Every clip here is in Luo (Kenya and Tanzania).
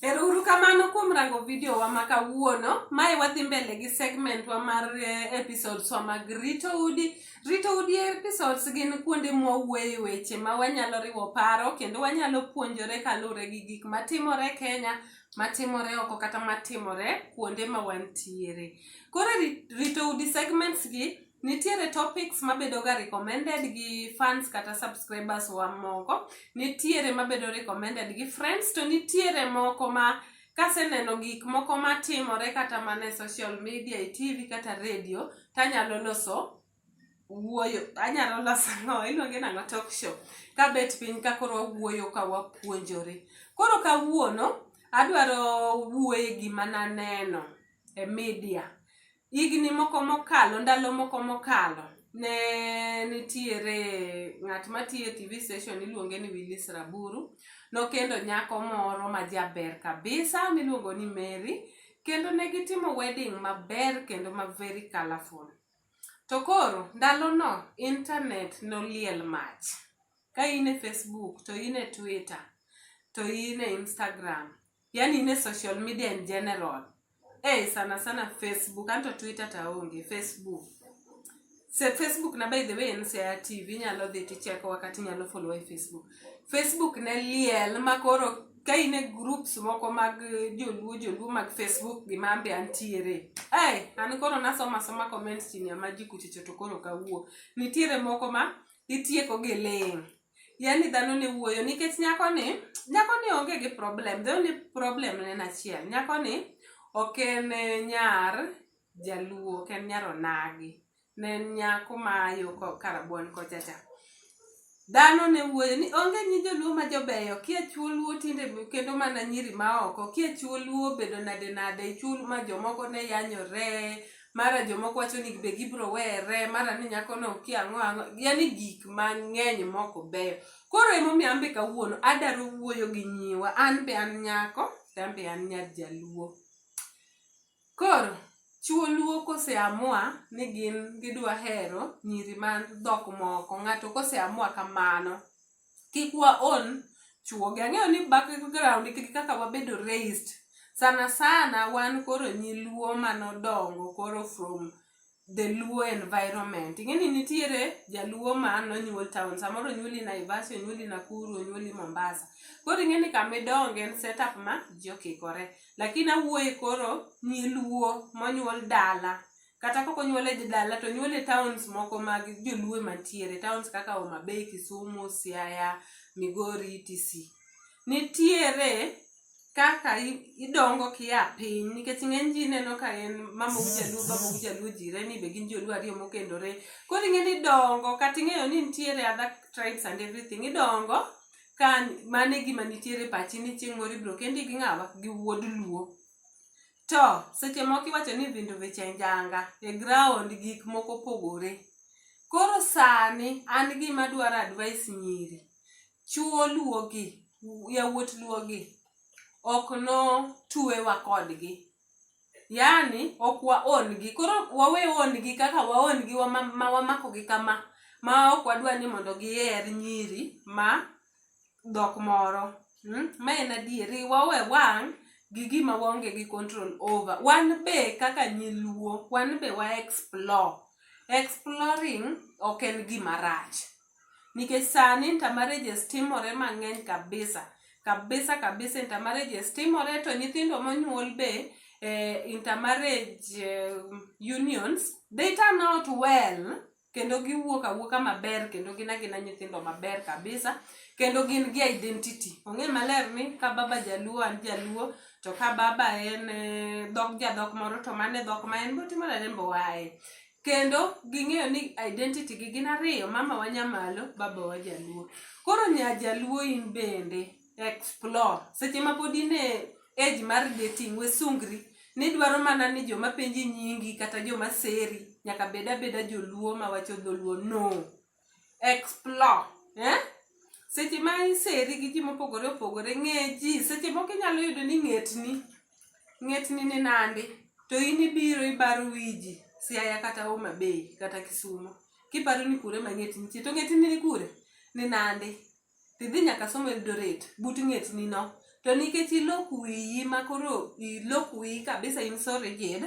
Erouru kamano kuom rango video wa ma kawuono. Mae wadhi mbele gi segment wa mar eh, episodes wa mag rito udi. Rito udi episodes gin kuonde mwawuoye weche ma wanyalo riwo paro kendo wanyalo puonjore kaluwore gi gik matimore Kenya, matimore oko kata matimore kuonde ma wantiere. Koro rito udi segments gi Nitiere topics mabedo ga recommended gi fans kata subscribers wa moko, nitiere mabedo recommended gi friends to nitiere moko ma kaseneno gik moko matimore kata mana e social media, e TV kata radio tanyalo loso wuoyo anyalo loso ang'o iluonge nang'o talk show kabet piny ka koro wawuoyo ka wapuonjore. Koro kawuono adwaro wuoye gima naneno e media Higni moko mokalo, ndalo moko mokalo, ne nitiere ng'at matiyo e TV station iluonge ni Willis Raburu. Nokendo nyako moro ma jaber kabisa miluongo ni Mary. Kendo ne gitimo wedding maber kendo ma very colourful. To koro, ndalono internet noliel mach. Ka in e Facebook, to in e Twitter, to in e Instagram, yani in e social media in general eh sana sana facebook anto twitter to aonge facebook Se, facebook na by the way en sea tv inyalo dhi ticheko wakati inyalo follow e facebook facebook ne liel ma koro ka in e groups moko mag eh, joluo joluo mag facebook gima ambe antiere hey, an koro nasoma soma comments chini ama ji kuchicho to koro kawuo nitiere moko ma itieko gi ling yani dhano ne wuoyo nikech nyako ni nyako ni onge gi problem the only problem ne en achiel nyako ni ok en eh, nyar jaluo ok en nyar onagi ne en nyako ma yo ko- karabuon kocha cha dhano ne wuoyo ni onge nyi joluo ma jobeyo kia chuo luo tinde kendo mana nyiri ma oko kia chuo luo bedo nade nade chuo ma jomoko ne yanyore mara jomoko wacho ni be gibiro were mara ni nyakono okia ang'o ang'o yani gik mang'eny moko beyo koro emomiyo an be kawuono adaro wuoyo gi nyiwa an be an nyako to an be an nyar jaluo koro chuo luo koseamua ni gin gidwa hero nyiri man dhok moko ng'ato koseamua kamano kik wa on chuogi ang'eyo ni background gi kaka wabedo raised sana sana wan koro nyi luo manodongo koro from the luo environment ing'eni nitiere jaluo ma nonyuol town samoro onyuoli naivasha onyuoli nakuru onyuoli mombasa koro ing'eni kamidonge en setup ma ji okikore lakini awuoye koro nyi luo monyuol dala kata koko nyuole e dala to nyuole e towns moko mag joluo mantiere towns kaka Homa Bay, Kisumu, Siaya, Migori etc. Nitiere kaka idongo kia piny nikech ng'eny ji neno ka en mama u jaluo baba u jaluo jirani be gin joluo ariyo mokendore koro ing'e ni idongo kata ing'eyo ni nitiere other tribes and everything idongo ka mane gima nitiere pachi ni chieng' moro ibiro kendi gi ng'awa gi wuod luo To seche moko iwacho ni vindo veche njanga e ground gik moko pogore. Koro sani an gima adwaro advice nyiri, chuo luo gi, yawuot luo gi ok no tuewa kodgi. Yaani ok wa own gi. Koro wawe own gi kaka wa own gi ma wamako gi kama ma ok wadwa ni mondo giher nyiri ma dhok moro hmm? ma en adieri wawe wang' gi gima waonge gi control over wan be kaka nyiluo wan be wa explore exploring ok en gima rach nikech sani intermarriages timore mang'eny kabisa kabisa kabisa intermarriages timore to nyithindo monyuol be eh, intermarriage eh, unions they turn out well kendo giwuok awuoka maber kendo gin agina nyithindo maber kabisa kendo gin gi identity ong'e maler ni ka baba jaluo an jaluo to ka baba en eh, dhok jadhok moro to mane dhok ma en botimo nade mbowaye kendo ging'eyo ni identity gi gin ariyo mama wa nyamalo baba wa jaluo koro nya jaluo in bende explore seche ma pod in e age mar dating wesungri nidwaro mana ni joma penji nyingi kata joma seri nyaka bed abeda joluo mawacho dholuo no explore eh? seche ma iseri gi ji mopogore opogore ng'e ji seche moko inyalo yudo ni ng'etni ng'etni ni nandi to in ibiro ibaro wiji siaya kata homa bay kata kisumo kiparo ni kure ma ng'etni nitie to ng'etni ni kure ni nandi to idhi nyaka somo Eldoret but ng'etni no to nikech ilok wiyi ma koro ilok wiyi kabisa in so rigid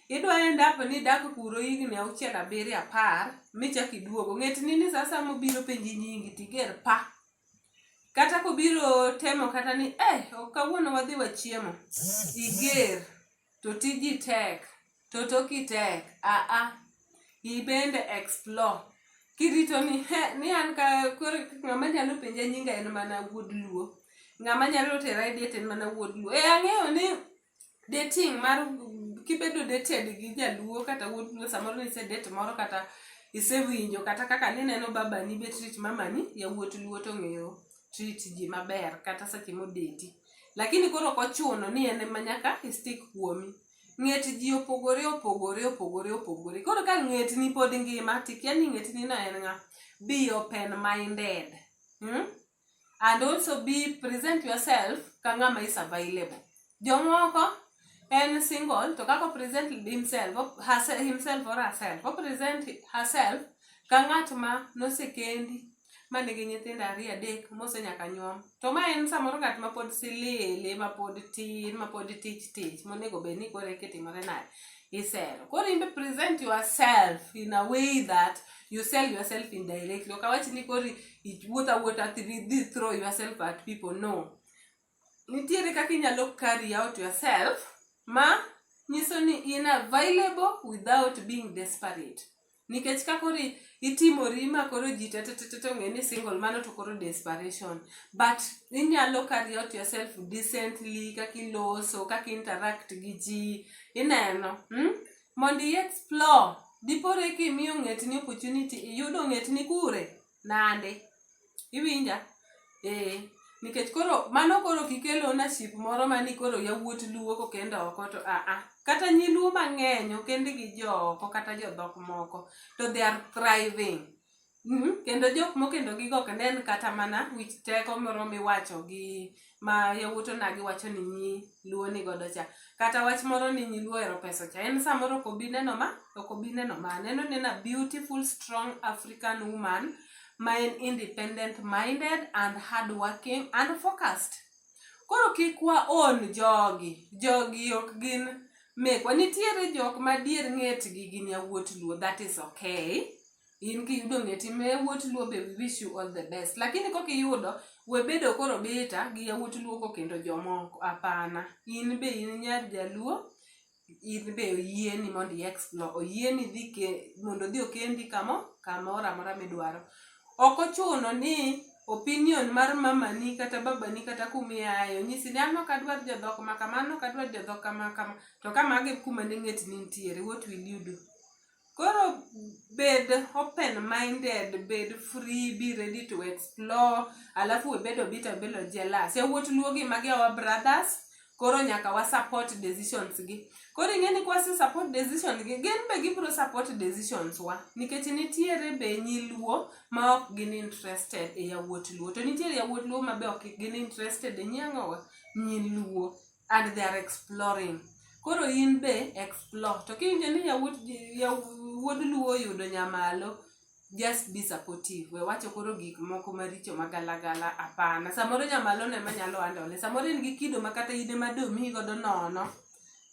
idwa end up ni idak kuro higni auchiel abiriyo apar michak iduogo ng'etni ni sa asaya mobiro penji nyingi tiger pa kata kobiro temo kata ni eh kawuono wadhi wachiemo iger to tiji tek Toto ki tek aa ibende explore kirito ni he ni an ka koro ng'ama nyalo penja nyinga en mana wuod luo ng'ama nyalo tera e date en mana wuod luo e ang'eyo ni dating mar kibedo dated gi jaluo kata wuod luo samoro nise date moro kata isewinjo kata kaka nineno babani be treat mamani yawuot luo to ng'eyo treat ji maber kata seche modeti lakini koro ok ochuno ni en ema nyaka istik kuomi ng'et ji opogore opogore opogore opogore koro ka ng'etni pod ngima tikia ni ng'etni no en ng'a be open minded hmm? and also be present yourself ka ng'ama is available jomoko en single to kako present himself herself, himself or herself o present herself ka ng'at ma nosekendi ma nigi nyithindo ariyo adek mose nyaka nyuom to ma en samoro ng'at ma pod silili ma pod tin ma pod tich tich monego bed ni koro kitimore naye isero koro imbe present yourself in a way that you sell yourself indirectly ok awach ni koro iwuotha wuotha thi throw yourself at people no Nitiere kaka inyalo carry out yourself ma nyiso ni in available without being desperate. Nikech ka koro itimori ma koro ji te te te ong'e ni single mano to koro desperation. But inyalo carry out yourself decently kaka iloso, kaka i interact gi ji. Ineno? Hmm? Mondo i explore. Dipore kimiyo ng'etni opportunity, iyudo ng'etni kure? Nande. Iwinja? Ee. Nikech koro mano koro kikel ownership moro ma ni koro yawuot luo kokend oko to a a. Kata nyi luo mang'eny okend gi jo oko kata jo dhok moko to they are thriving. Kendo jok mokendo gi go ok nen kata mana wich teko moro miwacho gi ma yawuot onagi wacho ni nyi luo ni godo cha kata wach moro ni nyi luo ero pesa cha en samoro ok obi neno ma ok obi neno ma neno nena beautiful strong african woman ma en independent minded and hard working and focused koro kik wa on jogi jogi ok gin mekwa nitiere jok madier ng'etgi gin yawuot luo that is okay in kiyudo ng'e tim ne yawuot luo be we wish you all the best lakini kok iyudo we bedo koro bita gi yawuot luo kokendo jomoko hapana in be in nyar jaluo in be oyieni mondo i explore oyieni dhi ke mondo odhi okendi kamo kamoro amora midwaro ok ochuno ni opinion mar mamani kata babani kata kumiaye onyisi ni an ok adwar jodhok ma kama an ok adwar jodhok kama kama to ka magi kuma ne ng'etni nitiere what will you do Koro bed open minded, bed free, be ready to explore. Alafu we bedo bitter, bedo jealous. E wuot luo gi magi our brothers. Koro nyaka wa support decisions gi. Koro ing'e ni kwa support decisions gi, gin be gibiro support decisions wa. Nikech nitiere be nyi luo ma ok gin interested e yawuot luo. To nitiere yawuot luo ma be ok gin interested e nyi ang'owa? Nyi luo. and they are exploring koro in be explore to kiwinjo ni yawuot yawuod luo oyudo nyamalo just be supportive we wacho koro gik moko maricho magalagala apana samoro nyamalo ne manyalo andone samoro en gi kido ma kata ine ma domiyi godo nono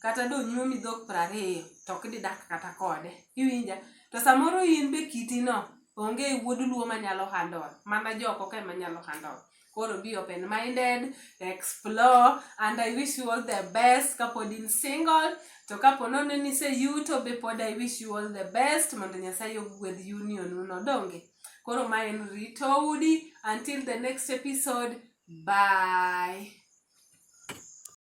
kata donyuomi dhok prariyo to ok didak kata kode iwinja to samoro in be kitino onge wuod luo manyalo handol mana joko ka ema nyalo handol koro be open minded explore and i wish you all the best kapod in single to kapo nono ni se yuto be pod i wish you all the best mondo nyasaye ogwedh union uno donge koro ma en rito udi until the next episode bye